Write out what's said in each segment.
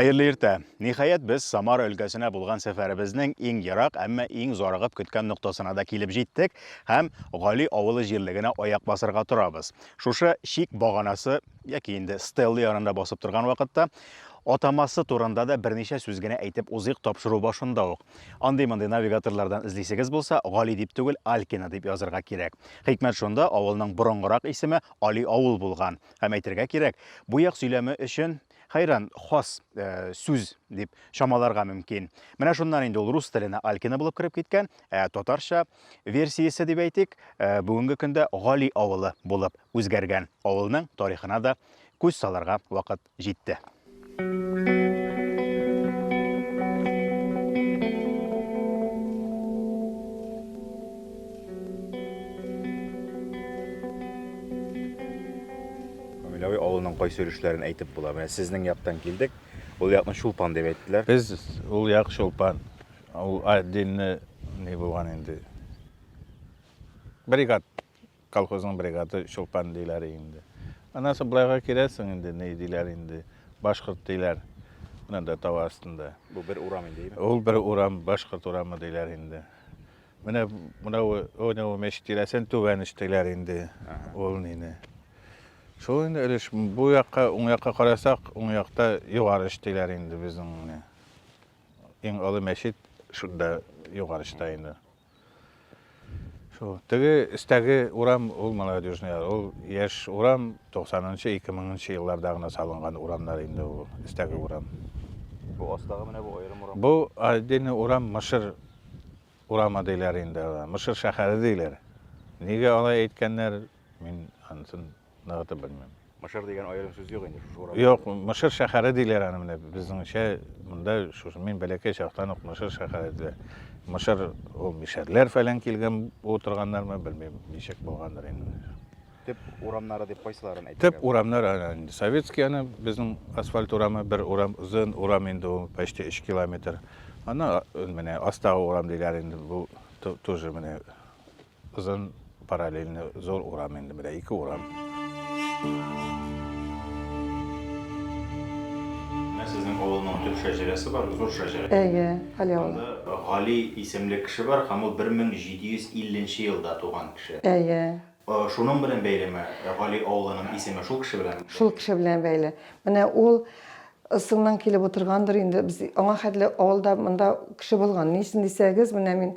Хәерле иртә. Ниһаять без Самара өлкәсенә булган сәфәребезнең иң ерак, әмма иң зарыгып көткән ноктасына да килеп җиттек һәм Гали авылы җирлегенә аяк басырга торабыз. Шушы чик баганасы яки инде стелла янында басып торган вакытта атамасы турында да берничә сүз генә әйтеп узыйк тапшыру башында ук. Андый-мондый навигаторлардан эзлисегез булса, Гали дип түгел, Алькина дип язырга кирәк. Хикмәт шунда, авылның борынгырак исеме Али авыл булган. Һәм әйтергә кирәк, бу як сөйләме өчен Хәйран, хас э, сүз дип чамаларга мөмкин. Менә шуннан инде ул рус теленә Алькина булып кереп киткән, ә татарча версиясе дип әйтик, э, бүгенге көндә Гали авылы булып үзгәргән. Авылның тарихына да күз саларга вакыт Җитте. Миләви авылының кайсы өлешләрен әйтеп була? Менә сезнең яктан килдек. Ул якны Чулпан дип әйттеләр. Без ул як Чулпан. Ул отдельно не булган инде. Бригад Колхозның бригады Чулпан диләр инде. Аннан соң былайга киләсең инде, ни диләр инде, башкорт диләр. Менә дә тау астында. Бу бер урам инде, әйеме? Ул бер урам, башкорт урамы диләр инде. Менә мынау уйны ул мәчет тирәсен түбән өстиләр инде. Ул нине. Шул инде өлеш бу якка, уң якка карасак, уң якта югары өстиләр инде безнең менә. Иң олы мәчет шунда югары өстә инде. Шул. Теге өстәге урам ул молодежный, ул яшь урам, 90-нчы, 2000-нчы елларда гына салынган урамнар инде ул өстәге урам. Бу астагы менә бу аерым урам. Бу отдельный урам Мышыр урамы диләр инде. Мышыр шәһәре диләр. Нигә алай әйткәннәр, мин анысын ныгытып белмим. Мышыр дигән аерым сүз юк инде шушы урам. Юк, Мышыр шәһәре диләр аны менә безнеңчә монда шушы мин бәләкәй чактан ук Мышыр шәһәре диләр. Мышыр ул мишәрләр фәлән килгән утырганнармы, белмим, ничек булгандыр инде. Төп урамнары дип кайсыларын әйтергә? Төп урамнар инде советский аны безнең асфальт урамы, бер урам, озын урам инде ул, почти 3 километр. Аны менә астагы урам диләр инде бу тоже менә Озын параллельный зур урам инде менә ике урам. Менә сезнең авылның төп шәҗәрәсе бар, зур шәҗәрә. Әйе, Гали авылы. Анда Гали исемле кеше бар һәм ул 1750 нче елда туган кеше. Әйе. Шуның белән бәйлеме, Гали авылының исеме шул кеше белән? Шул кеше белән бәйле. Менә ул ысыннан килеп утыргандыр инде. Без аңа хәтле авылда монда кеше булган. Ни өчен дисәгез, менә мин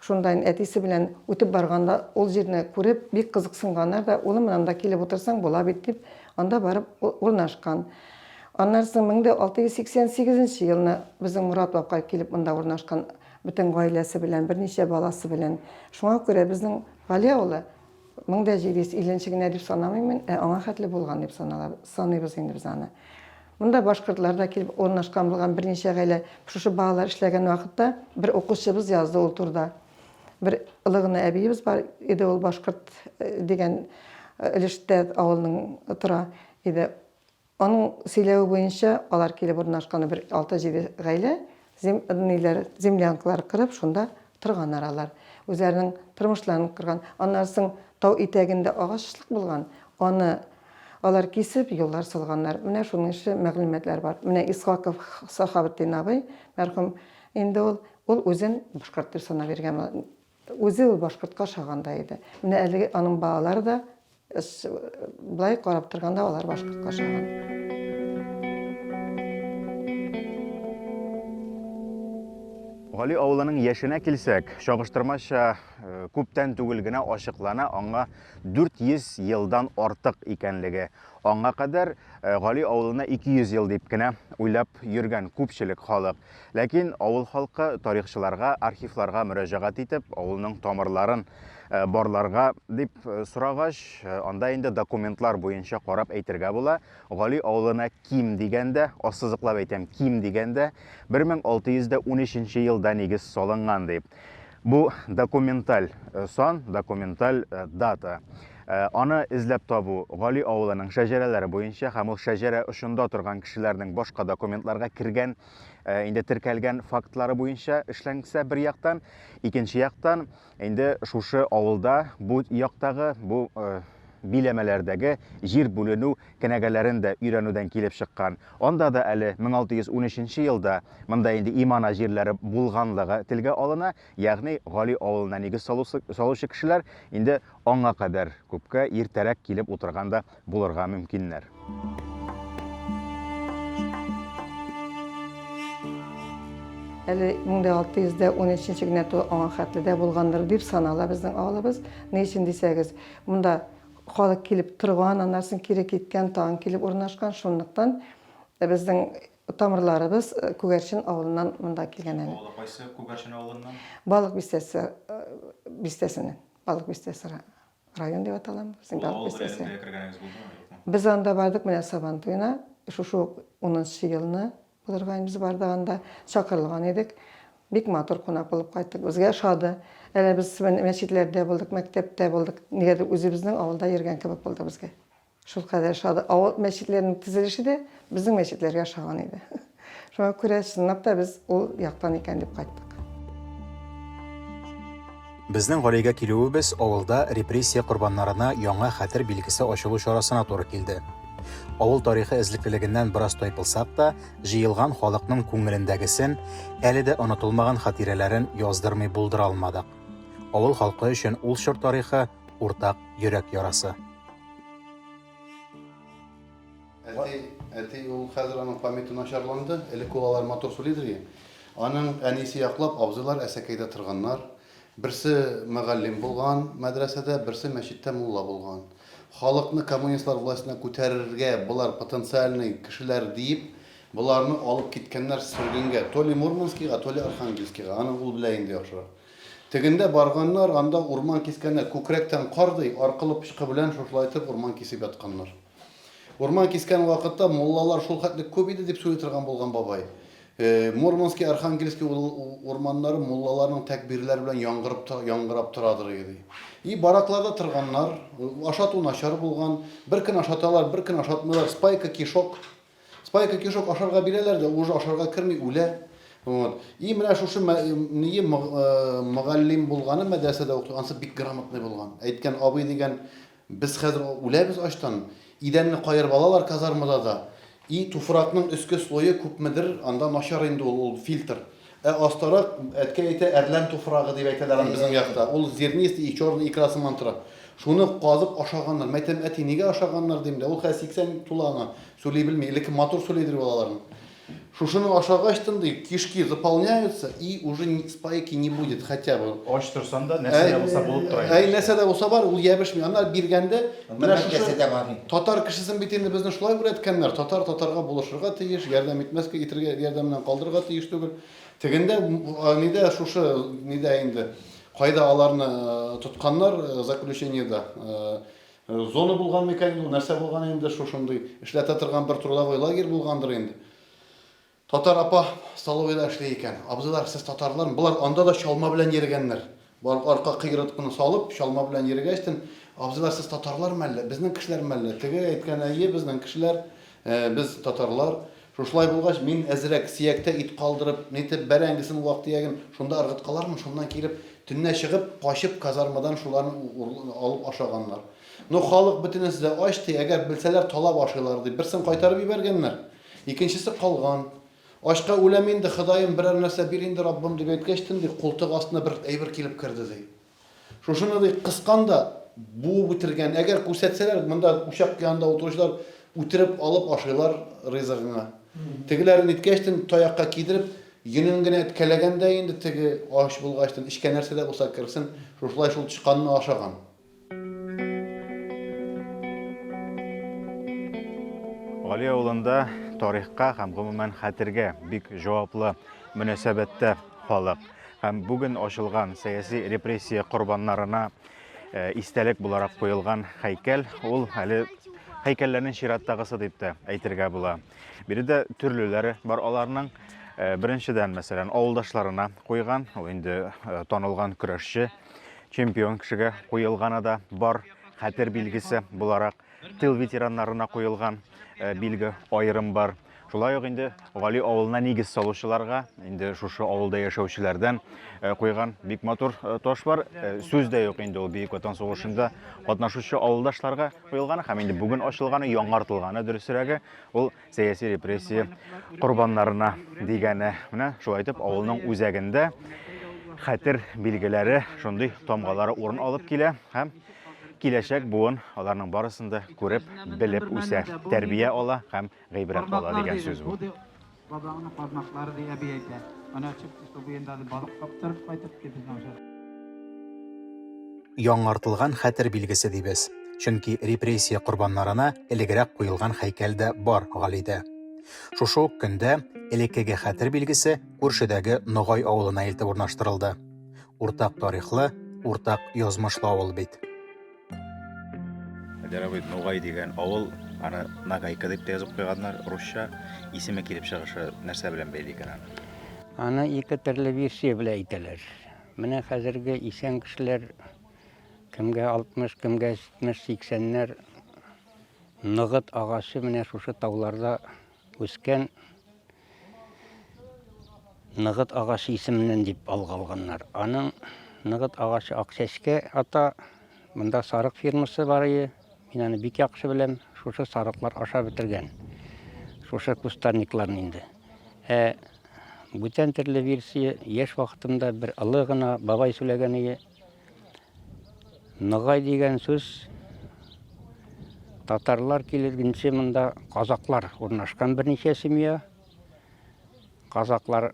Шунда инде әтисе белән үтеп барганда, ул җирне күреп, бик кызыксынганнар да, Улым, менә анда килеп утырсаң була бит, дип, анда барып урнашкан. Аннары соң 1688 нче елны безнең Морат бабка килеп монда урнашкан, бөтен гаиләсе белән, берничә баласы белән. Шуңа күрә безнең Гали авылы 1750 генә дип санамыйм мин, ә аңа хәтле булган дип санала, саныйбыз инде без аны. Монда башкортлар да килеп урнашкан булган берничә гаилә. Шушы балалар эшләгән вакытта бер укучыбыз язды ул турда. Бер олы гына әбиебез бар иде, ул башкорт э, дигән э, өлештә авылның тора иде. Аның сөйләве буенча, алар килеп урнашкан бер алты-җиде гаилә зем ниләр, землянкалар кырып, шунда торганнар алар. Үзләренең тормышларын корган. Аннары соң тау итәгендә агачлык булган, аны алар кисеп, юллар салганнар. Менә шуның эше мәгълүматлар бар. Менә Исхаков Сахабетдин абый, мәрхүм инде ул, ул үзен башкорт дип санап йөргән. Үзе ул башкортка ошаган да иде. Менә әлеге аның балалары да Без былай карап торганда алар башкортка ошаган. Гали авылының яшенә килсәк, чагыштырмача э, күптән түгел генә ачыклана аңа 400 елдан артык икәнлеге. Аңа кадәр э, Гали авылына 200 ел дип кенә уйлап йөргән күпчелек халык. Ләкин авыл халкы тарихчыларга, архивларга мөрәҗәгать итеп, авылның тамырларын барларга дип сорагач, анда инде документлар буенча карап әйтергә була. Гали авылына ким дигәндә, ассызыклап әйтәм, ким дигәндә 1613 елда нигез салынган дип. Бу документаль сан, документаль дата. Аны эзләп табу Гали авылының шәҗәрәләре буенча һәм ул шәҗәрә очында торган кешеләрнең башка документларга кергән, инде теркәлгән фактлары буенча эшләнсә бер яктан, икенче яктан инде шушы авылда бу яктагы, бу биләмәләрдәге җир бүленү кенәгәләрен дә өйрәнүдән килеп чыккан. Анда да әле 1613 нче елда монда инде имана җирләре булганлыгы телгә алына, ягъни Гали авылына нигез салучы кешеләр инде аңа кадәр күпкә иртәрәк килеп утырган да булырга мөмкиннәр. Әле 1613 нче генә тулган аңа хәтле дә булгандыр дип санала безнең авылыбыз. Ни өчен дисәгез, монда Халык килеп торган, аннан соң кире киткән, тагын килеп урнашкан. Шунлыктан безнең тамырларыбыз Күгәрчен авылыннан монда килгән әле. Авылы кайсы Күгәрчен авылыннан? Балык бистәсе бистәсеннән. Балык бистәсе район дип атала. Ул авыл берәлендә кергәнегез булдымы, юкмы? Без анда бардык менә Сабан туена, шушы ук унынчы елны Булырга без барда анда чакырылган идек. Бик матур кунак булып кайттык. Безгә ошады. Әле без мәчетләрдә булдык, мәктәптә булдык. Нигәдер үзебезнең авылда йөргән кебек булды безгә. Шулкадәр ошады. Авыл мәчетләренең төзелеше дә безнең мәчетләргә ошаган иде. Шуңа күрә чынлап та без ул яктан икән дип кайттык. Безнең Галигә килүебез авылда репрессия корбаннарына яңа хәтер билгесе ачылу чарасына туры килде. Авыл тарихы эзлеклелегеннән бераз тайпылсак та, җыелган халыкның күңелендәгесен, әле дә онытылмаган хатирәләрен яздырмый булдыра алмадык. Авыл халкы өчен ул чор тарихы, уртак йөрәк ярасы. Әти, әти ул хәзер аның памяте начарланды. Элек ул алар матур сүлидер. Аның әнисе яклап абзыйлар әсәкәйдә торганнар. Берсе мөгаллим булган мәдрәсәдә, берсе мәчеттә мулла булган. Халыкны коммунистлар властена күтәрергә болар потенциальный кешеләр диеп, боларны алып киткәннәр сөргенгә, то ли Мурманскига, то ли Архангельскига, аны ул белә инде яхшырак. Тегендә барганнар, анда урман кискәннәр, күкрәктән кар ди, аркылы пычкы белән шушылайтып урман кисеп ятканнар. Урман кискән вакытта муллалар шул хәтле күп иде, дип сөйли торган булган бабай. Мурманский, Архангельский урманнары муллаларның тәкбирләре белән яңгырып, яңгырап торадыр иде, ди. И баракларда торганнар, ашату начар булган, бер көн ашаталар, бер көн ашатмыйлар, спайка кишок. Спайка кишок ашарга бирәләр дә, уже ашарга керми, үлә. Вот. И менә шушы ние мөгаллим булганы мәдрәсәдә укыган, ансы бик грамотный булган. Әйткән абый дигән Без хәзер үләбез ачтан. Идәнне каерып алалар казармада да. И туфракның өске слое күпмедер, анда начар инде ул, ул фильтр. Ә астарак, әткәй әйтә, әрлән туфрагы дип әйтәләр аны безнең якта. Ул зернистый и черный икра сыман тора. Шуны казып ашаганнар. Мәйтәм, әти, нигә ашаганнар, дим дә. Ул хәзер 80 тула аңа, сүли белми. Элекке матур сүлидер ул аларның. Шушыны ашагач тын ди, кишки заполняются и уже спайки не будет хотя бы. Ач торсаң да, нәрсә дә булса булып тора иде. Әй, нәрсә дә булса бар, ул ябешми. Аннары биргәндә, менә шушы татар кешесен бит инде безне шулай үрәткәннәр, татар татарга булышырга тиеш, ярдәм итмәскә, итергә, ярдәмнән калдырырга тиеш түгел. Тегендә, нидә шушы, нидә инде, кайда аларны тотканнар заключениедә, Зона булган микән инде ул, нәрсә булган инде шушындый? Эшләтә торган бер трудовой лагерь булгандыр инде. Татар апа столовыйда эшли икән. Абзыйлар, сез татарлармы? Болар анда да чалма белән йөрегәннәр. Бар арка кыерыткыны салып, чалма белән йөрегәчтен, Абзыйлар, сез татарлармы әллә? Безнең кешеләрме әллә? Теге әйткән, әйе, безнең кешеләр. Ә без, татарлар, Шушылай булгач, мин әзрәк сөяктә ит калдырып, нитеп, бәрәңгесен, вак-төяген шунда ыргыткалармын, шуннан килеп, төнлә чыгып, качып, казармадан шуларны алып ашаганнар. Ну, халык бөтенесе дә ач, ди, әгәр белсәләр, талап ашыйлар, дип, берсен кайтарып җибәргәннәр, икенчесе калган. Ачка үләм инде, Ходаем, берәр нәрсә бир инде, Раббым, дип әйткәчтен, ди, култык астына бер әйбер килеп керде, ди. Шушыны ди кыскан да, буып үтергән. Әгәр күрсәтсәләр, монда учак янында утыручылар үтереп алып ашыйлар ризыгыңа. Тегеләрен ниткәчтен таякка кидереп, йонын генә эткәләгән дә инде теге, ач булгачтын, эчкә нәрсә дә булса керсен, шушылай шул тычканны ашаган. Гали авылында тарихка һәм, гомумән, хәтергә бик җаваплы мөнәсәбәттә. халык һәм бүген ачылган сәяси репрессия корбаннарына э, истәлек буларак куелган һәйкәл ул әле һәйкәлләрнең чираттагысы дип тә әйтергә була. Биредә төрлеләре бар аларның. Э, беренчедән, мәсәлән, авылдашларына куйган, ул инде э, танылган көрәшче, чемпион кешегә куелганы да бар, хәтер билгесе буларак. Тыл ветераннарына куелган э, билге аерым бар. Шулай ук инде Гали авылына нигез салучыларга, инде шушы авылда яшәүчеләрдән э, куйган бик матур э, таш бар. Сүз дә юк инде ул Бөек Ватан сугышында катнашучы авылдашларга куелган һәм инде бүген ачылганы, яңартылганы дөресрәге, ул сәяси репрессия корбаннарына дигәне. Менә шулай итеп авылның үзәгендә хәтер билгеләре, шундый тамгалары урын алып килә һәм киләчәк буын аларның барысын да күреп, белеп үсә, тәрбия ала һәм гыйбрәт ала дигән сүз бу. Бабаңның кармаклары дип әби әйтә. Су буенда да балык каптырып кайтып ди безнең җыр. Яңартылган хәтер билгесе дибез, чөнки репрессия корбаннарына элегрәк куелган хәйкәл дә бар Галидә. Шушы ук көндә элеккеге хәтер билгесе күршедәге Ногай авылына илтеп урнаштырылды. Уртак тарихлы, уртак язмышлы авыл бит. Дәрәбит Нугай дигән авыл, аны Нагайка дип тә язып куйганнар, русча. Исеме килеп чыгышы нәрсә белән бәйле икән аны? Аны ике төрле версия белән әйтәләр. Менә хәзерге исән кешеләр кемгә 60, кемгә 70, 80-ләр ныгыт агачы менә шушы тауларда Үскән ныгыт агачы исеменнән дип алга алганнар. Аның ныгыт агачы Акчәчкә ата. Монда сарык фирмасы бар ие. Мин аны бик яхшы беләм. Шушы сарыклар аша бетергән. Шушы кустарникларны инде. Ә бүтән төрле версия яшь вакытымда бер олы гына бабай сөйләгән ие. Ногай дигән сүз татарлар килгәнче монда казаклар урнашкан берничә семья. Казаклар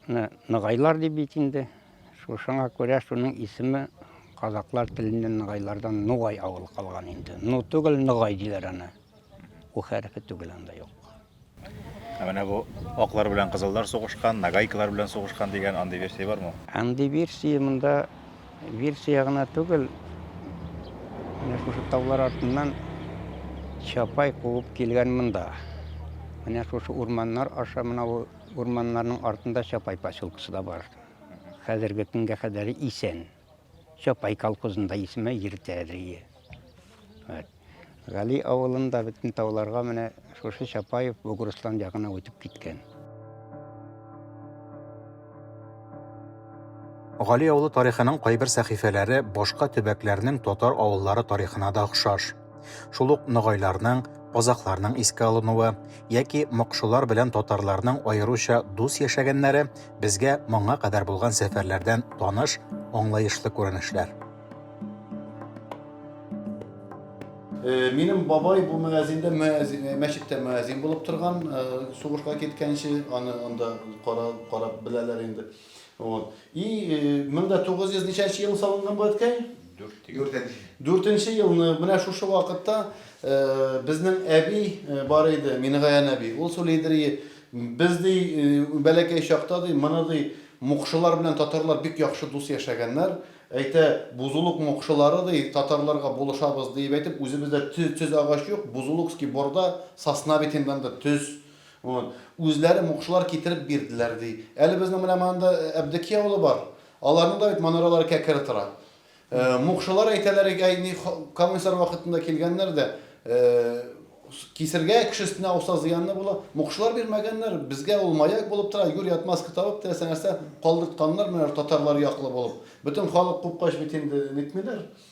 ногайлар дип бит инде. Шушыңа күрә шуның исеме казаклар теленнән ногайлардан Нугай авылы калган инде. Ну түгел, Ногай диләр аны. У хәрефе түгел анда юк. Ә менә бу аклар белән кызыллар сугышкан, нагайкалар белән сугышкан дигән андый версия бармы? Андый версия монда версия гына түгел. Менә шушы таулар артыннан чапай куып килгән монда. Менә шушы урманнар аша менә ул урманнарның артында чапай поселкасы да бар. Хәзерге көнгә кадәр исән. Чопай колхозында исеме Иртәрие. Гали авылында бөтен тауларга менә шушы Чапаев Бугурстан ягына үтеп киткән. Гали авылы тарихының кайбер сәхифәләре башка төбәкләрнең татар авыллары тарихына да охшаш. Шул ук ногайларның, казакларның искә алынуы яки мокшылар белән татарларның аеруча дус яшәгәннәре безгә моңа кадәр булган сәфәрләрдән таныш, аңлаешлы күренешләр. Э, минем бабай бу мәзиндә э, мәчеттә мәзин булып торган, э, сугышка киткәнче аны анда карап беләләр инде. Вот. И 1900 ничәнче елны салынган бу әткәй? Дүртенче. Дүртенче елны менә шушы вакытта э, безнең әби э, бар иде, Мингаян әби. Ул сөйләйдер, без ди э, бәләкәй чакта ди, моны ди мукшылар белән татарлар бик яхшы дус яшәгәннәр. Әйтә, бузулык мукшылары ди татарларга булышабыз дип әйтеп, үзебездә төз, төз агач юк, бузулукский борда, сосна битеннән дә төз Вот. Үзләре мукшылар китереп бирделәр, ди. Әле безнең менә монда Әбдекия авылы бар. Аларның да бит манаралары кәкре тора. Мукшылар әйтәләр ик, әй, ни, коммунистлар вакытында килгәннәр дә, кисергә, кеше өстенә ауса, зыянлы була. Мукшылар бирмәгәннәр. Безгә ул маяк булып тора. Юри отмазка табып, теләсә нәрсә калдыртканнар, менә татарлар яклы булып. Бөтен халык купкач бит инде нитмиләр.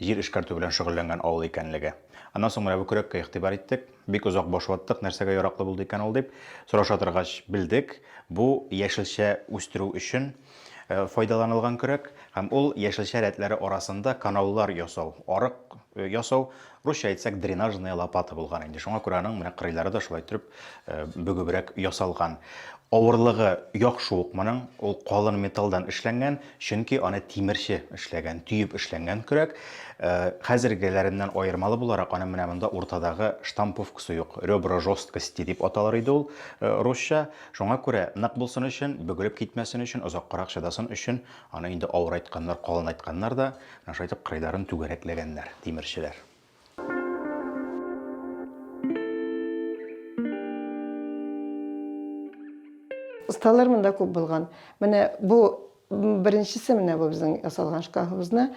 Җир эшкәртү белән шөгыльләнгән авыл икәнлеге. Аннан соң менә бу көрәккә игътибар иттек. Бик озак баш ваттык, нәрсәгә яраклы булды икән ул дип. Сораша торгач, белдек, бу яшелчә үстерү өчен файдаланылган көрәк һәм ул яшелчә рәтләре арасында канаулар ясау, арык ясау, русча әйтсәк, дренажная лопата булган инде. Шуңа күрә аның менә кырыйлары да шулай төреп бөгебрәк ясалган. Авырлыгы яхшы ук моның, ул калын металлдан эшләнгән, Чөнки аны тимерче эшләгән, төеп эшләнгән көрәк. Э, хәзергеләреннән аермалы буларак, аның менә монда уртадагы штамповкасы юк. Ребра жесткости дип аталар иде ул э, русча. Шуңа күрә нык булсын өчен, бөгелеп китмәсен өчен, озаккарак чыдасын өчен, аны инде авырайтканнар, калынайтканнар да, шайтып кырыйларын түгәрәкләгәннәр тимерчеләр. Осталар монда күп булган. Менә бу беренчесе менә бу безнең ясалган шкафыбызны.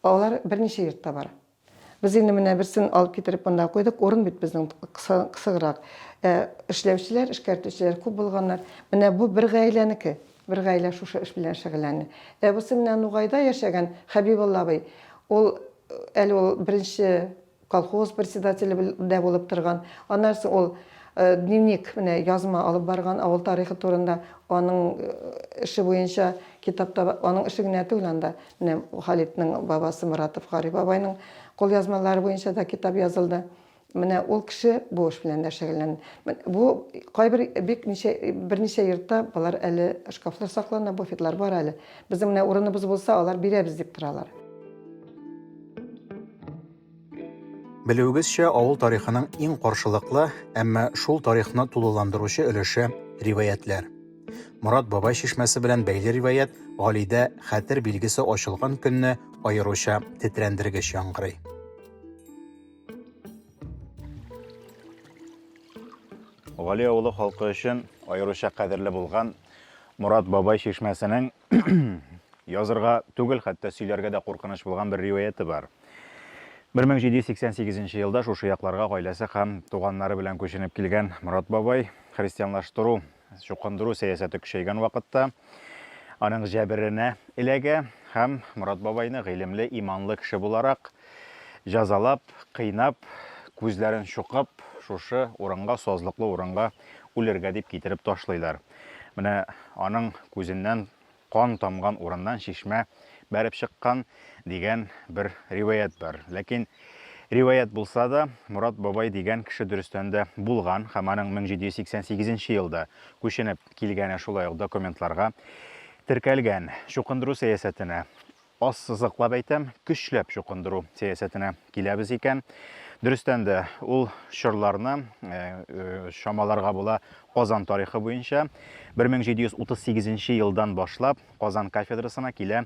Алар берничә йортта бар. Без инде менә берсен алып китереп монда куйдык. Урын бит безнең кысыграк. Эшләүчеләр, эшкәртүчеләр күп булганнар. Менә бу бер гаиләнеке. Бер гаилә шушы эш белән шөгыльләнә. Әбусы менә Нугайда яшәгән Хәбибулла абый, ул әле ул беренче колхоз председателе дә булып торган. Аннан соң ул дневник, менә язма алып барган авыл тарихы турында, аның эше буенча китап та бар. Аның эше генә түгел анда, менә Халитның бабасы Моратов Гариф бабайның кулъязмалары буенча да китап язылды. Менә ул кеше бу эш белән дә шөгыльлән. Бу кайбер бик ничә берничә йортта болар әле шкафлар саклана, буфетлар бар әле. Безнең менә урыныбыз булса, алар бирәбез дип торалар. Белүегезчә, авыл тарихының иң каршылыклы, әмма шул тарихны тулыландыручы өлеше риваятьләр. Морат бабай чишмәсе белән бәйле риваять Галидә хәтер билгесе ачылган көнне аеруча тетрәндергеч яңгырый. Гали авылы халкы өчен аеруча кадерле булган Мурат бабай чишмәсенең язырга түгел, хәтта сөйләргә дә куркыныч булган бер риваяте бар. 1788 елда шушы якларга гаиләсе һәм туганнары белән күченеп килгән Мурат бабай христианлаштыру Чукындыру сәясәте көчәйгән вакытта аның җәберенә эләгә һәм Морат бабайны гыйлемле, иманлы кеше буларак җәзалап, кыйнап, күзләрен чукып, шушы урынга, сазлыклы урынга үлергә дип китереп ташлыйлар. Менә аның күзеннән Кан тамган урыннан чишмә бәреп чыккан, дигән бер риваять бар. Ләкин, риваять булса да, Морат бабай дигән кеше дөрестән дә булган һәм аның 1788 нче елда күченеп килгәне шулай ук документларга теркәлгән. Чукындыру сәясәтенә. Ассызыклап әйтәм, көчләп чукындыру сәясәтенә киләбез икән, дөрестән дә, ул чорларны чамаларга була Казан тарихы буенча. 1738 нче елдан башлап Казан кафедрасына килә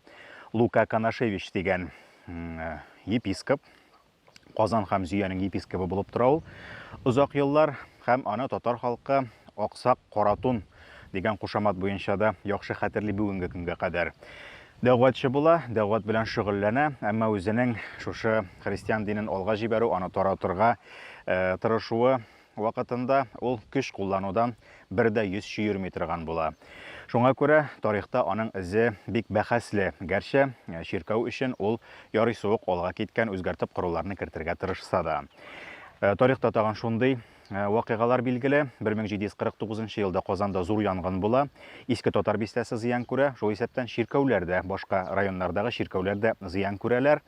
Лука Канашевич дигән епископ. Казан һәм Зөянең епискобы булып тора ул озак еллар һәм аны татар халкы Аксак Каратун дигән кушамат буенча да яхшы хәтерли бүгенге көнгә кадәр. Дәгъватчы була, дәгъват белән шөгыльләнә, әмма үзенең шушы христиан динен алга җибәрү, аны таратырга тырышуы Вакытында ул көч кулланудан бер дә йөз чөерми торган була. Шуңа күрә тарихта аның эзе бик бәхәсле, гәрчә чиркәү өчен ул ярыйсы ук алга киткән үзгәртеп коруларны кертергә тырышса да. Тарихта тагын шундый вакыйгалар билгеле, 1749 елда Казанда зур янгын була, Иске Татар бистәсе зыян күрә, шул исәптән чиркәүләр дә, башка районнардагы чиркәүләр дә зыян күрәләр.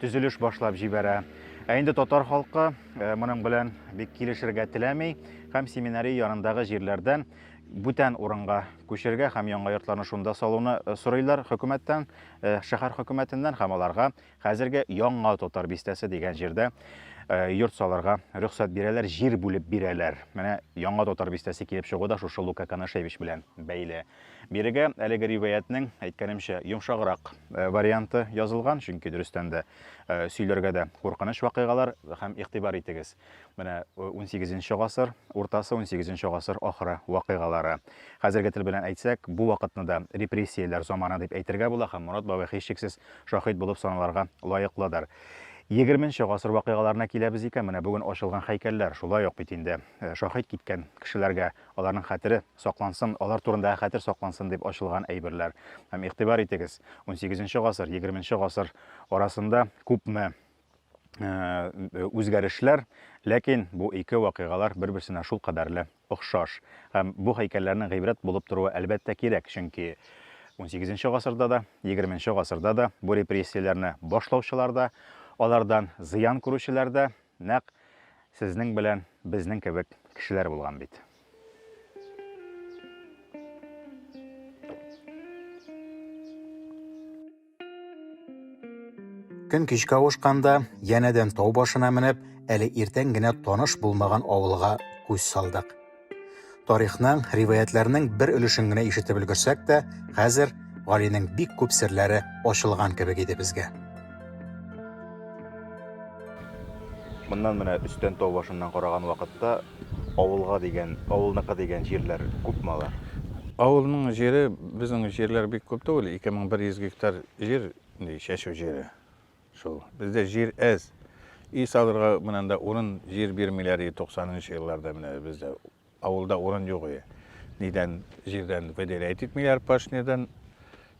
төзелеш башлап җибәрә. Ә инде татар халкы э, моның белән бик килешергә теләми һәм семинария янындагы җирләрдән бүтән урынга күчергә һәм яңа йортларны шунда салуны э, сорыйлар хөкүмәттән, э, шәһәр хөкүмәтеннән һәм аларга хәзерге яңа татар бистәсе дигән җирдә йорт салырга рөхсәт бирәләр, җир бүлеп бирәләр. Менә яңа татар бистәсе килеп чыгу да шушы Лука Канашевич белән бәйле. Бирегә әлеге риваятьнең, әйткәнемчә, йомшаграк э, варианты язылган, чөнки дөрестән дә э, сөйләргә дә куркыныч вакыйгалар һәм игътибар итегез. Менә 18 э, гасыр уртасы, 18 гасыр ахыры вакыйгалары. Хәзерге тел белән әйтсәк, бу вакытны да репрессияләр заманы дип әйтергә була һәм Морат бабай һичшиксез шаһит булып саналарга лаеклыдыр. 20 гасыр вакыйгаларына киләбез икән, менә бүген ачылган һәйкәлләр шулай ук бит инде шаһит киткән кешеләргә Аларның хәтере саклансын, алар турындагы хәтер саклансын дип ачылган әйберләр. Һәм игътибар итегез, унсигезенче гасыр, егерменче гасыр арасында күпме үзгәрешләр, ләкин бу ике вакыйгалар бер-берсенә шул кадәрле охшаш. Һәм бу һәйкәлләрнең гыйбрәт булып торуы, әлбәттә, кирәк, чөнки унсигезенче гасырда да, егерменче гасырда да бу репрессияләрне башлаучылар да, алардан зыян күрүчеләр дә, Нәкъ сезнең белән безнең кебек кешеләр булган бит. Көн кичкә авышканда, янәдән тау башына менеп, әле иртән генә таныш булмаган авылга күз салдык. Тарихның, риваятләрнең бер өлешен генә ишетеп өлгерсәк тә, хәзер Галинең бик күп серләре ачылган кебек иде безгә. Моннан менә өстән тау башыннан караган вакытта авылга дигән, авылныкы дигән җирләр күпме алар? Авылның җире, безнең җирләр бик күп түгел, 2100 гектар җир, чәчү җире. Шул. Бездә җир әз. Өй салырга менә анда урын, җир бирмиләр иде 90 нчы елларда менә бездә авылда урын юк иде. Нидән җирдән выделять итмиләр пашнядан,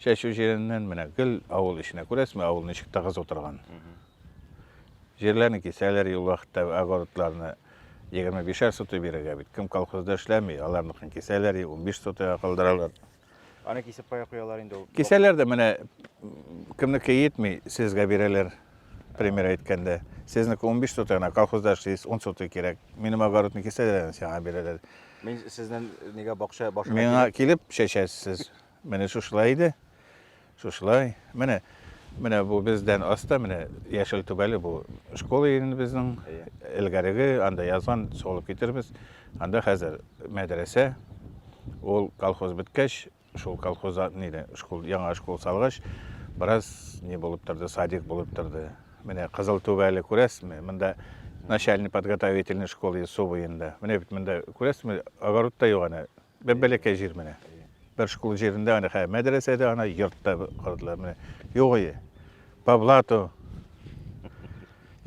чәчү җиреннән менә гел авыл эченә күрәсезме, авыл ничек тыгыз утырган. Җирләрне кисәләр юл вакытта огородларны 25 сотый бирергә бит. Кем колхозда эшләми, аларныкын кисәләр, 15 сотыйга калдыралар. Аны кисеп кая куялар инде ул. Кисәләр дә менә кемнеке йитми, сезгә бирәләр, пример әйткәндә. Сезнеке 15 сотый гына, колхозда эшлисез, 10 сотый кирәк. Минем огородны кисәләр, сиңа бирәләр. Мин сезнең нигә бакча башына Миңа килеп чәчәсез. Менә шушылай иде. Шушылай. Менә, менә бу бездән аста, менә яшел түбәле бу школа инде безнең. Элгәреге анда язган, солып китербез. Анда хәзер мәдрәсә. Ул колхоз беткәч, шул колхозда нидә, школ, яңа школ салгач, бераз ни булып торды, садик булып торды. Менә кызыл түбәле күрәсезме? Монда начальный подготовительный школ иде су буенда. Менә бит монда күрәсезме, огород та юк әнә. Бәбәләкәй җир менә. Бер школ җирендә аны хә мәдрәсәдә аны йортта кылдылар менә. Юк ие. По блату.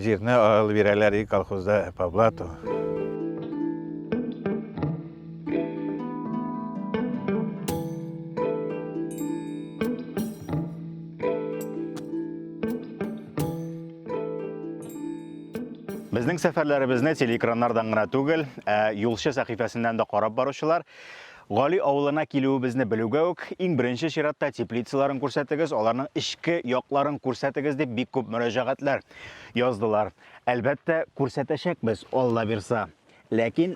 Җирне алып бирәләр и колхозда по блату. Безнең сәфәрләребезне телеэкраннардан гына түгел, ә юлчы сәхифәсеннән дә карап баручылар Гали авылына килүебезне белүгә үк, иң беренче чиратта теплицаларын күрсәтегез, аларның эчке якларын күрсәтегез дип бик күп мөрәҗәгатьләр яздылар. Әлбәттә, күрсәтәчәкбез, Алла бирса. Ләкин